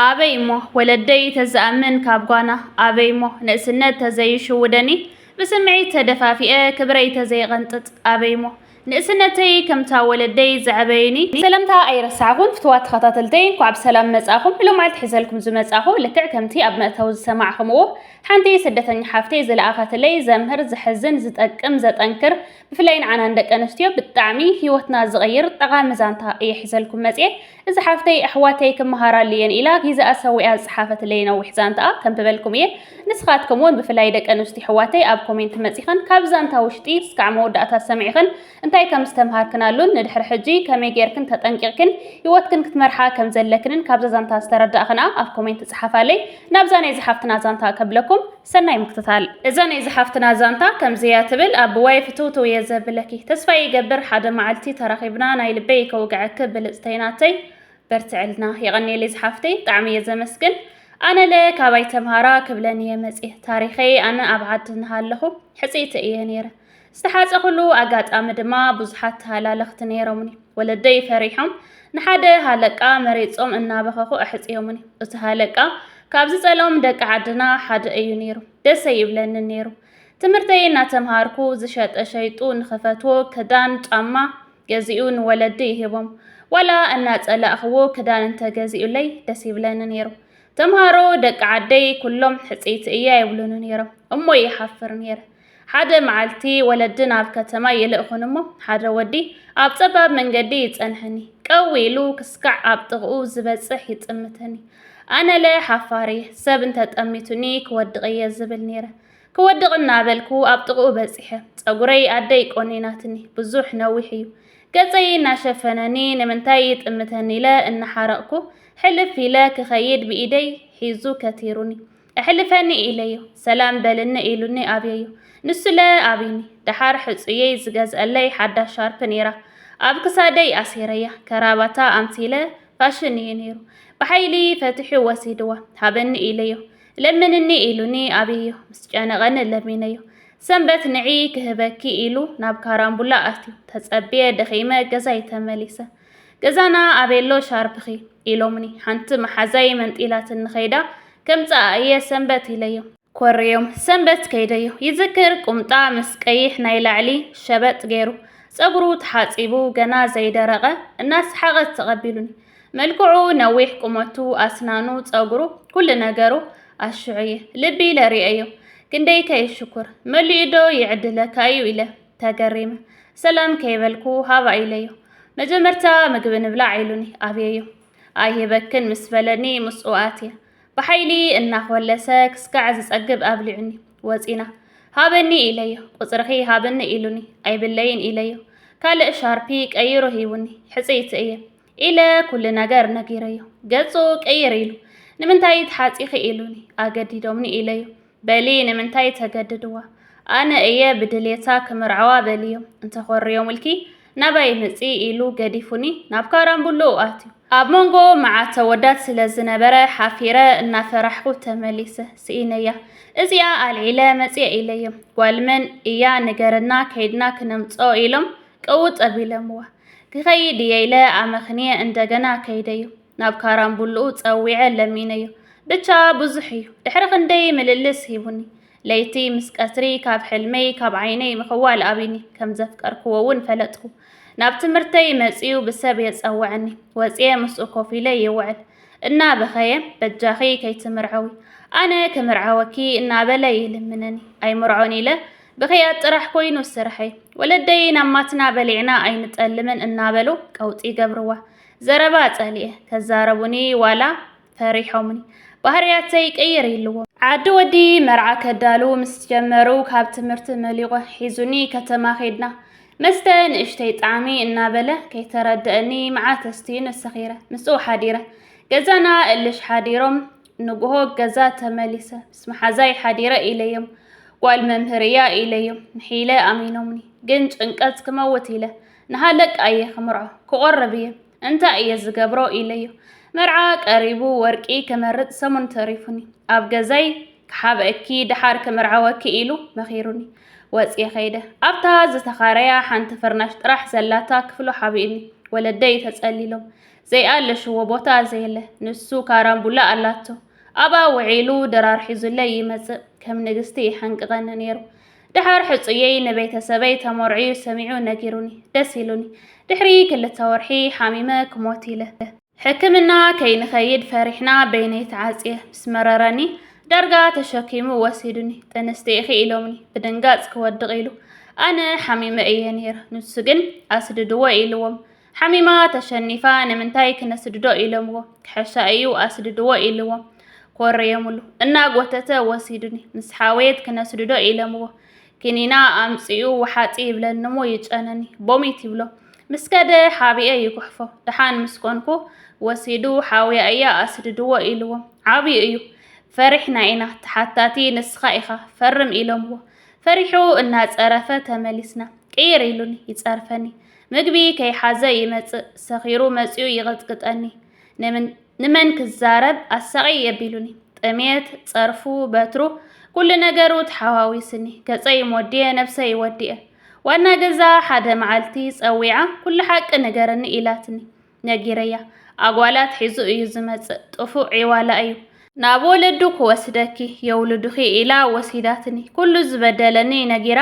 ኣበይ እሞ ወለደይ ተዝኣምን ካብ ጓና ኣበይ እሞ ንእስነት ተዘይሽውደኒ ብስምዒት ተደፋፊኤ ክብረይ ተዘይቐንጥጥ ኣበይ እሞ ንእስነተይ ከምታ ወለደይ ዘዕበዩኒ ሰለምታ ኣይረሳዕኹን ፍትዋት ተኸታተልተይ እንኳዕ ብሰላም መጻኹም እሎ መዓልቲ ሒዘልኩም ዝመጻኹ ልክዕ ከምቲ ኣብ መእተዊ ዝሰማዕኹምዎ ሓንቲ ስደተኛ ሓፍተይ ዝለኣኸትለይ ዘምህር ዘሕዝን ዝጠቅም ዘጠንክር ብፍላይ ንዓና ንደቂ ኣንስትዮ ብጣዕሚ ሂወትና ዝቕይር ጠቓሚ ዛንታ እየ ሒዘልኩም መጽየ። እዚ ሓፍተይ ኣሕዋተይ ክመሃራሉ እየን ኢላ ጊዘኣ ሰዊኣ ዝጸሓፈትለይ ነዊሕ ዛንትኣ ከንብበልኩም እየ። ንስኻትክም ውን ብፍላይ ደቂ ኣንስትዮ ኣሕዋተይ ኣብ ኮሜንት መጺኽን ካብ ዛንታ ውሽጢ እስካዕ መወዳእታ ሰሚዕኽን እንታይ ከም ዝተምሃርክናሉን ንድሕሪ ሕጂ ከመይ ጌርክን ተጠንቂቕክን ሂወትክን ክትመርሓ ከም ዘለክንን ካብዛ ዛንታ ዝተረዳእኽንኣ ኣብ ኮሜንት ጸሓፋለይ። ናብዛ ናይዛ ሓፍትና ዛንታ ከብለኩም። ሰናይ ምክትታል። እዛ ናይ ዝሓፍትና ዛንታ ከምዚ እያ ትብል ኣብ ዋይ ፍትውትው እየ ዘብለኪ ተስፋ ይገብር ሓደ ማዓልቲ ተራኪብና ናይ ልበይ ከውግዐኪ ብልፅተይ ናተይ በርትዕልና የቀንየለይ ዝሓፍተይ ብጣዕሚ እየ ዘመስግን ኣነለ ካባይ ተምሃራ ክብለን እየ መፅየ ታሪከይ ኣነ ኣብ ዓዲ እናሃለኩ ሕፅይቲ እየ ነይረ ዝተሓጸኹሉ ኣጋጣሚ ድማ ብዙሓት ተሃላለኽቲ ነይሮምኒ። ወለደይ ፈሪሖም ንሓደ ሃለቃ መሪጾም እናበኸኹ ኣሕጽዮምኒ። እቲ ሃለቃ ካብ ዝጸልኦም ደቂ ዓድና ሓደ እዩ ነይሩ። ደስ ኣይብለንን ነይሩ። ትምህርተይ እናተምሃርኩ ዝሸጠ ሸይጡ ንኽፈትዎ ክዳን ጫማ ገዚኡ ንወለዲ ይህቦም። ዋላ እናጸላእኽዎ ክዳን እንተገዚኡለይ ደስ ይብለኒ ነይሩ። ተምሃሮ ደቂ ዓደይ ኩሎም ሕጽይቲ እያ ይብሉኒ ነይሮም እሞ ይሓፍር ነይረ። ሓደ መዓልቲ ወለዲ ናብ ከተማ ይልእኹኒ እሞ ሓደ ወዲ ኣብ ጸባብ መንገዲ ይጸንሐኒ። ቀው ኢሉ ክስካዕ ኣብ ጥቕኡ ዝበጽሕ ይጥምተኒ። ኣነለ ሓፋር እየ፣ ሰብ እንተ ጠሚቱኒ ክወድቕ እየ ዝብል ነይረ። ክወድቕ እናበልኩ ኣብ ጥቕኡ በጺሐ። ጸጉረይ ኣደይ ቆኒናትኒ፣ ብዙሕ ነዊሕ እዩ። ገጸይ እናሸፈነኒ ንምንታይ ይጥምተኒ ኢለ እናሓረቕኩ ሕልፍ ኢለ ክኸይድ ብኢደይ ሒዙ ከቲሩኒ። እሕልፈኒ ኢለዮ ሰላም በልኒ ኢሉኒ ኣብየዮ ንሱለ ኣብይኒ ደሓር ሕጹየይ ዝገዝኣለይ ሓዳሽ ሻርፕ ኔራ ኣብ ክሳደይ ኣሲረያ ከራባታ ኣምሲለ ፋሽን እዩ ኔሩ ብሓይሊ ፈትሑ ወሲድዋ ሃበኒ ኢለዮ ለምንኒ ኢሉኒ ኣብየዮ ምስ ጨነቐኒ ለሚነዮ ሰንበት ንዒ ክህበኪ ኢሉ ናብ ካራምቡላ ኣትዩ ተጸብየ ደኺመ ገዛይ ተመሊሰ ገዛና ኣበየሎ ሻርፕኺ? ኢሎምኒ። ሓንቲ መሓዛየይ መንጢላትኒ ከይዳ ከምጽኣ እየ ሰንበት ኢለዮም። ኮርዮም ሰንበት ከይደዮ። ይዝክር ቁምጣ ምስ ቀይሕ ናይ ላዕሊ ሸበጥ ገይሩ፣ ጸጉሩ ተሓጺቡ ገና ዘይደረቐ እናሰሓቐት ተቐቢሉኒ። መልክዑ ነዊሕ፣ ቁመቱ፣ ኣስናኑ፣ ጸጉሩ፣ ኩሉ ነገሩ ኣሽዑየ ልቢ ኢለ ርእየዮ። ክንደይከ ይሽኩር መሊኡዶ ይዕድለካ እዩ ኢለ። ተገሪመ ሰላም ከይበልኩ ሃባ ኢለዮ። መጀመርታ ምግቢ ንብላዕ ኢሉኒ ኣብየዮ ኣይህበክን ምስ በለኒ ምስኡ ኣትየ ብሓይሊ እናኾለሰ ክስካዕ ዝጸግብ ኣብሊዑኒ ወጺና ሃበኒ ኢለዮ ቁጽርኺ ሃብኒ ኢሉኒ ኣይብለይን ኢለዮ ካልእ ሻርፒ ቀይሩ ሂቡኒ ሕጽይቲ እየ ኢለ ኩሉ ነገር ነጊረዮ ገጹ ቀይር ኢሉ ንምንታይ ተሓጺኺ ኢሉኒ ኣገዲዶምኒ ኢለዮ በሊ ንምንታይ ተገድድዋ ኣነ እየ ብድሌታ ክምርዓዋ በልዮ እንተኾርዮምልኪ ናባይ ምፂ ኢሉ ገዲፉኒ ናብ ካራምቡሎ ኣትዩ ኣብ መንጎ መዓት ተወዳት ስለ ዝነበረ ሓፊረ እናፈራሕኩ ተመሊሰ ስኢነያ እዚኣ ኣልዒለ መፅየ ኢለዮም ጓልመን እያ ንገረና ከይድና ክነምፅኦ ኢሎም ቀውጥ ኣቢለምዋ ክኸይድ እየ ኢለ ኣመኽንየ እንደገና ከይደዩ ናብ ካራምቡልኡ ጸዊዐ ለሚነዮ። ብቻ ብዙሕ እዩ ድሕሪ ክንደይ ምልልስ ሂቡኒ። ለይቲ ምስ ቀትሪ ካብ ሕልመይ ካብ ዓይነይ ምኽዋል ኣብዩኒ። ከም ዘፍቀርክዎ እውን ፈለጥኩ። ናብ ትምህርተይ መጺኡ ብሰብ የጸውዐኒ። ወጺኤ ምስኡ ኮፍ ኢለ ይውዕል። እናበኸየ በጃኺ ከይትምርዐዊ ኣነ ክምርዓወኪ እናበለ ይልምነኒ። ኣይምርዖን ኢለ ብኽያት ጥራሕ ኮይኑ ስርሐይ። ወለደይ ናብ ማትና በሊዕና ኣይንጠልምን እናበሉ ቀውጢ ይገብርዋ። ዘረባ ጸሊኤ ከዛረቡኒ ዋላ ፈሪሖምኒ ባህርያተይ ቀይር ኢልዎ። ዓዲ ወዲ መርዓ ከዳሉ ምስ ጀመሩ ካብ ትምህርቲ መሊቖ ሒዙኒ ከተማ ኼድና። መስተ ንእሽተይ ጣዕሚ እናበለ ከይተረደአኒ መዓት ኣስትዩኒ ሰኺረ ምስኡ ሓዲረ። ገዛና እልሽ ሓዲሮም ንጉሆ ገዛ ተመሊሰ ምስ መሓዛይ ሓዲረ ኢለዮም። ጓል መምህር እያ ኢለዮም ንሒለ ኣሚኖምኒ ግን ጭንቀት ክመውት ኢለ ንሃለቃ እየ ክምርዖ ክቆርብ እየ እንታይ እየ ዝገብሮ ኢለዮ መርዓ ቀሪቡ ወርቂ ክመርፅ ሰሙን ተሪፉኒ ኣብ ገዛይ ክሓብእኪ ድሓር ክምርዓወኪ ኢሉ መኺሩኒ ወፅየ ከይደ ኣብታ ዝተኻረያ ሓንቲ ፍርናሽ ጥራሕ ዘላታ ክፍሉ ሓቢእኒ ወለደይ ተፀሊሎም ዘይኣለሽዎ ቦታ ዘየለ ንሱ ካራምቡላ ኣላቶ ኣብኣ ውዒሉ ድራር ሒዙለይ ይመፅእ ከም ንግስቲ ይሓንቅቐኒ ነይሩ ድሓር ሕጹየይ ንቤተሰበይ ተመርዕዩ ሰሚዑ ነጊሩኒ ደስ ኢሉኒ ድሕሪ ክልተ ወርሒ ሓሚመ ክሞት ኢለ ሕክምና ከይንኸይድ ፈሪሕና በይነይ ተዓጽየ ምስ መረረኒ ዳርጋ ተሸኪሙ ወሲዱኒ ጥንስቲ ኢኺ ኢሎምኒ ብድንጋጽ ክወድቕ ኢሉ ኣነ ሓሚመ እየ ነይረ ንሱ ግን ኣስድድዎ ኢልዎም ሓሚማ ተሸኒፋ ንምንታይ ክነስድዶ ኢሎምዎ ክሕሻ እዩ ኣስድድዎ ኢልዎም ኮረዮምሉ እናጎተተ ወሲዱኒ ምስ ሓወየት ክነስድዶ ኢሎምዎ ክኒና ኣምፅኡ ውሓጢ ይብለንሞ ይጨነኒ ቦሚት ይብሎ ምስ ከደ ሓቢኤ ይጉሕፎ ደሓን ምስ ኮንኩ ወሲዱ ሓውያ እያ ኣስድድዎ ኢልዎም ዓብዩ እዩ ፈሪሕና ኢና ተሓታቲ ንስኻ ኢኻ ፈርም ኢሎምዎ ፈሪሑ እናፀረፈ ተመሊስና ቅይር ኢሉኒ ይፀርፈኒ ምግቢ ከይሓዘ ይመጽእ ሰኺሩ መጺኡ ይቕጥቅጠኒ ንምን ንመን ክዛረብ ኣሳቒ የቢሉኒ ጥሜት ጸርፉ በትሩ ኩሉ ነገሩ ተሓዋዊስኒ ገጸይ ሞዲየ ነብሰይ ወዲኤ ዋና ገዛ ሓደ መዓልቲ ጸዊዓ ኩሉ ሓቂ ንገረኒ ኢላትኒ ነጊረያ ኣጓላት ሒዙ እዩ ዝመጽእ ጥፉእ ዒዋላ እዩ ናብ ወለዱ ክወስደኪ የውልዱኺ ኢላ ወሲዳትኒ ኩሉ ዝበደለኒ ነጊራ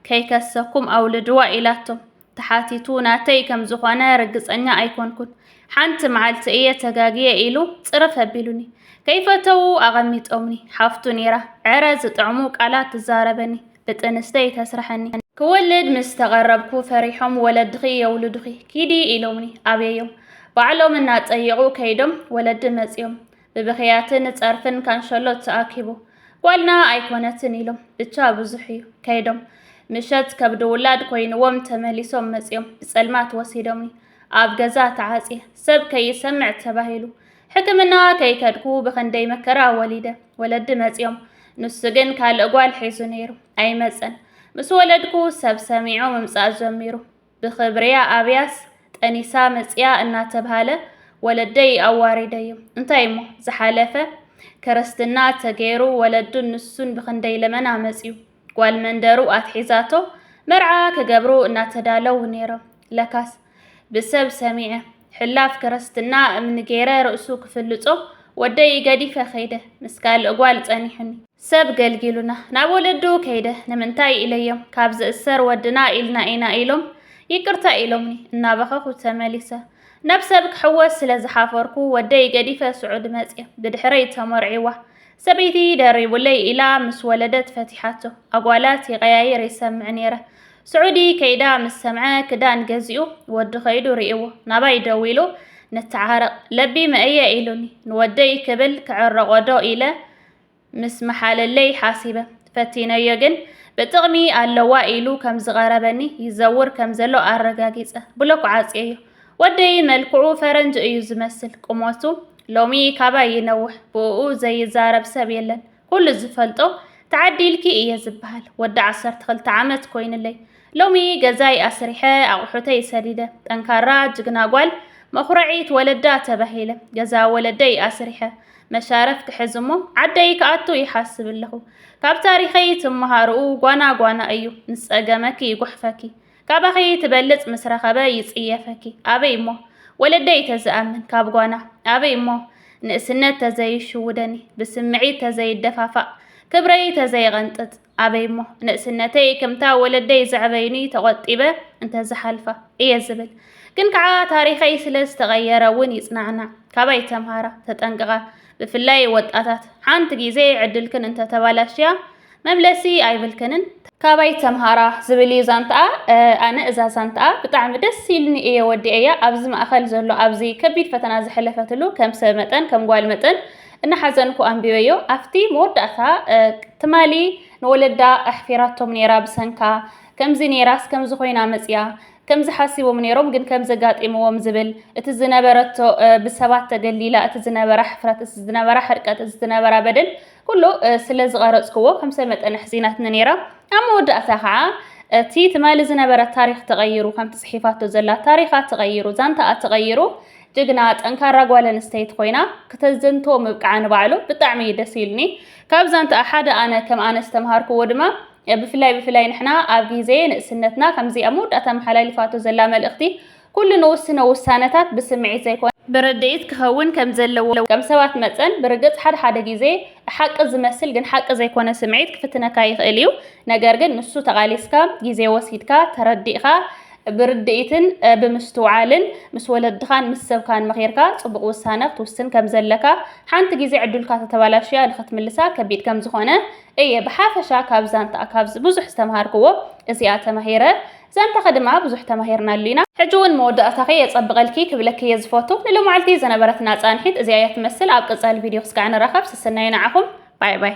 ከይከሰኩም ኣውልድዋ ኢላቶም ተሓቲቱ ናተይ ከም ዝኾነ ርግጸኛ ኣይኮንኩን ሓንቲ መዓልቲ እየ ተጋግየ ኢሉ ጽርፍ ኣቢሉኒ ከይፈተዉ ኣቐሚጦምኒ ሓፍቱ ኔራ ዕረ ዝጥዕሙ ቃላት ትዛረበኒ ብጥንስተይ ተስርሐኒ። ክወልድ ምስ ተቐረብኩ ፈሪሖም ወለድኺ የውልዱኺ ኪዲ ኢሎምኒ ኣብየዮም። ባዕሎም እናጠየቑ ከይዶም ወለዲ መፅዮም ብብኽያትን ፀርፍን ካንሸሎት ተኣኪቡ ጓልና ኣይኮነትን ኢሎም ብቻ ብዙሕ እዩ ከይዶም ምሸት ከብዲ ውላድ ኮይንዎም ተመሊሶም መፅዮም ብፀልማት ወሲዶምኒ ኣብ ገዛ ተዓፅየ ሰብ ከይሰምዕ ተባሂሉ ሕክምና ከይከድኩ ብኽንደይ መከራ ወሊደ ወለዲ መጺኦም፣ ንሱ ግን ካልእ ጓል ሒዙ ነይሩ። ኣይመጸን። ምስ ወለድኩ ሰብ ሰሚዑ ምምጻእ ጀሚሩ። ብኽብርያ ኣብያስ ጠኒሳ መጺኣ እናተብሃለ ወለደይ ኣዋሪደዮም። እንታይ እሞ ዝሓለፈ ክርስትና ተገይሩ ወለዱን ንሱን ብኽንደይ ለመና መጺኡ። ጓል መንደሩ ኣትሒዛቶ መርዓ ክገብሩ እናተዳለው ነይሮም። ለካስ ብሰብ ሰሚዐ ሕላፍ ክርስትና እምኒ ገይረ ርእሱ ክፍልጾ ወደይ ገዲፈ ከይደ ምስ ካልእ ጓል ጸኒሑኒ። ሰብ ገልጊሉና ናብ ወለዱ ከይደ ንምንታይ ኢለዮም ካብ ዝእሰር ወድና ኢልና ኢና ኢሎም ይቅርታ ኢሎምኒ እናበኸኹ ተመሊሰ። ናብ ሰብ ክሕወስ ስለ ዝሓፈርኩ ወደይ ገዲፈ ስዑድ መጽየ ብድሕረይ ተመርዒዋ። ሰበይቲ ደሪቡለይ ኢላ ምስ ወለደት ፈቲሓቶ። ኣጓላት ይቐያይር ይሰምዕ ነይረ። ስዑዲ ከይዳ ምስ ሰምዐ ክዳን ገዚኡ ወዱ ከይዱ ርእይዎ ናባይ ደዊሉ ንተዓረቕ ለቢመ እየ ኢሉኒ። ንወደይ ክብል ክዕረቖዶ ኢለ ምስ መሓለለይ ሓሲበ ፈቲነዮ ግን ብጥቕሚ ኣለዋ ኢሉ ከም ዝቐረበኒ ይዘውር ከም ዘሎ ኣረጋጊጸ ብሎክ ዓጽየዮ። ወደይ መልክዑ ፈረንጅ እዩ ዝመስል ቁመቱ ሎሚ ካባይ ይነውሕ ብእኡ ዘይዛረብ ሰብ የለን ኩሉ ዝፈልጦ ተዓዲልኪ እየ ዝበሃል ወዲ ዓሰርተ ክልተ ዓመት ኮይንለይ ሎሚ ገዛይ ኣስሪሐ ኣቑሑተይ ሰዲደ ጠንካራ ጅግና ጓል መኹረዒት ወለዳ ተባሂለ ገዛ ወለደይ ኣስሪሐ መሻረፍ ክሕዝ እሞ ዓደይ ክኣቱ ይሓስብ ኣለኹ ካብ ታሪኸይ ትመሃርኡ ጓና ጓና እዩ ምስ ጸገመኪ ይጉሕፈኪ ካባኺ ትበልጽ ምስ ረኸበ ይጽየፈኪ ኣበይ እሞ ወለደይ ተዝኣምን ካብ ጓና ኣበይ እሞ ንእስነት ተዘይሽውደኒ ብስምዒት ተዘይደፋፋእ ክብረይ ተዘይቐንጥጥ ኣበይ እሞ ንእስነተይ ከምታ ወለደይ ዘዕበዩኒ ተቖጢበ እንተዝሓልፋ እየ ዝብል ግን ከዓ ታሪኸይ ስለ ዝተቐየረ እውን ይጽናዕናዕ ካባይ ተምሃራ ተጠንቅቓ ብፍላይ ወጣታት ሓንቲ ግዜ ዕድልክን እንተተባላሽያ መምለሲ ኣይብልክንን ካባይ ተምሃራ ዝብል እዩ ዛንትኣ ኣነ እዛ ዛንትኣ ብጣዕሚ ደስ ኢልኒ እየ ወዲኤያ ኣብዚ ማእኸል ዘሎ ኣብዚ ከቢድ ፈተና ዝሐለፈትሉ ከም ሰብ መጠን ከም ጓል መጠን እናሓዘንኩ ኣንቢበዮ ኣብቲ መወዳእታ ትማሊ ንወለዳ ኣሕፊራቶም ነይራ ብሰንካ ከምዚ ነይራስ ከምዚ ኮይና መፅያ ከምዚ ሓሲቦም ነይሮም ግን ከምዚ ጋጢምዎም ዝብል እቲ ዝነበረቶ ብሰባት ተገሊላ እቲ ዝነበራ ሕፍረት እቲ ዝነበራ ሕርቀት እቲ ዝነበራ በደል ኩሉ ስለ ዝቐረጽክዎ ከም ሰብ መጠን ኣሕዚናትኒ ነይራ። ኣብ መወዳእታ ከዓ እቲ ትማሊ ዝነበረ ታሪኽ ተቐይሩ ከምቲ ጽሒፋቶ ዘላ ታሪኻ ተቐይሩ ዛንታኣ ተቐይሩ ጅግና ጠንካራ ጓል ኣንስተይቲ ኮይና ክተዘንቶ ምብቃዓ ንባዕሉ ብጣዕሚ እዩ ደስ ኢሉኒ። ካብ ዛንታኣ ሓደ ኣነ ከም ኣነ ዝተምሃርክዎ ድማ ብፍላይ ብፍላይ ንሕና ኣብ ግዜ ንእስነትና ከምዚ ኣብ መወዳእታ ኣመሓላሊፋቶ ዘላ መልእኽቲ ኩሉ ንውስኖ ውሳነታት ብስምዒት ዘይኮነ ብርድኢት ክኸውን ከም ዘለዎ። ከም ሰባት መጠን ብርግጽ ሓደ ሓደ ግዜ ሓቂ ዝመስል ግን ሓቂ ዘይኮነ ስምዒት ክፍትነካ ይኽእል እዩ። ነገር ግን ንሱ ተቓሊስካ፣ ግዜ ወሲድካ፣ ተረዲእካ፣ ብርድኢትን ብምስትውዓልን ምስ ወለድኻን ምስ ሰብካን መኺርካ ጽቡቕ ውሳነ ክትውስን ከም ዘለካ ሓንቲ ግዜ ዕዱልካ ተተባላሽያ ንኽትምልሳ ከቢድ ከም ዝኾነ እየ ብሓፈሻ ካብ ዛንታኣ ካብዚ ብዙሕ ዝተምሃርክዎ እዚኣ ተማሂረ ዘንተኺ ድማ ብዙሕ ተማሂርናሉ ኢና። ሕጂ ውን መወዳእታኺ የጸብቐልኪ ክብለኪ እየ ዝፈቱ። ንሎማዕልቲ ዝነበረትና ጻንሒት እዚኣ እያ ትመስል ኣብ ቀጻሊ ቪድዮ ክስጋዕ ንራኸብ ስስናየ ንዓኹም ባይ ባይ።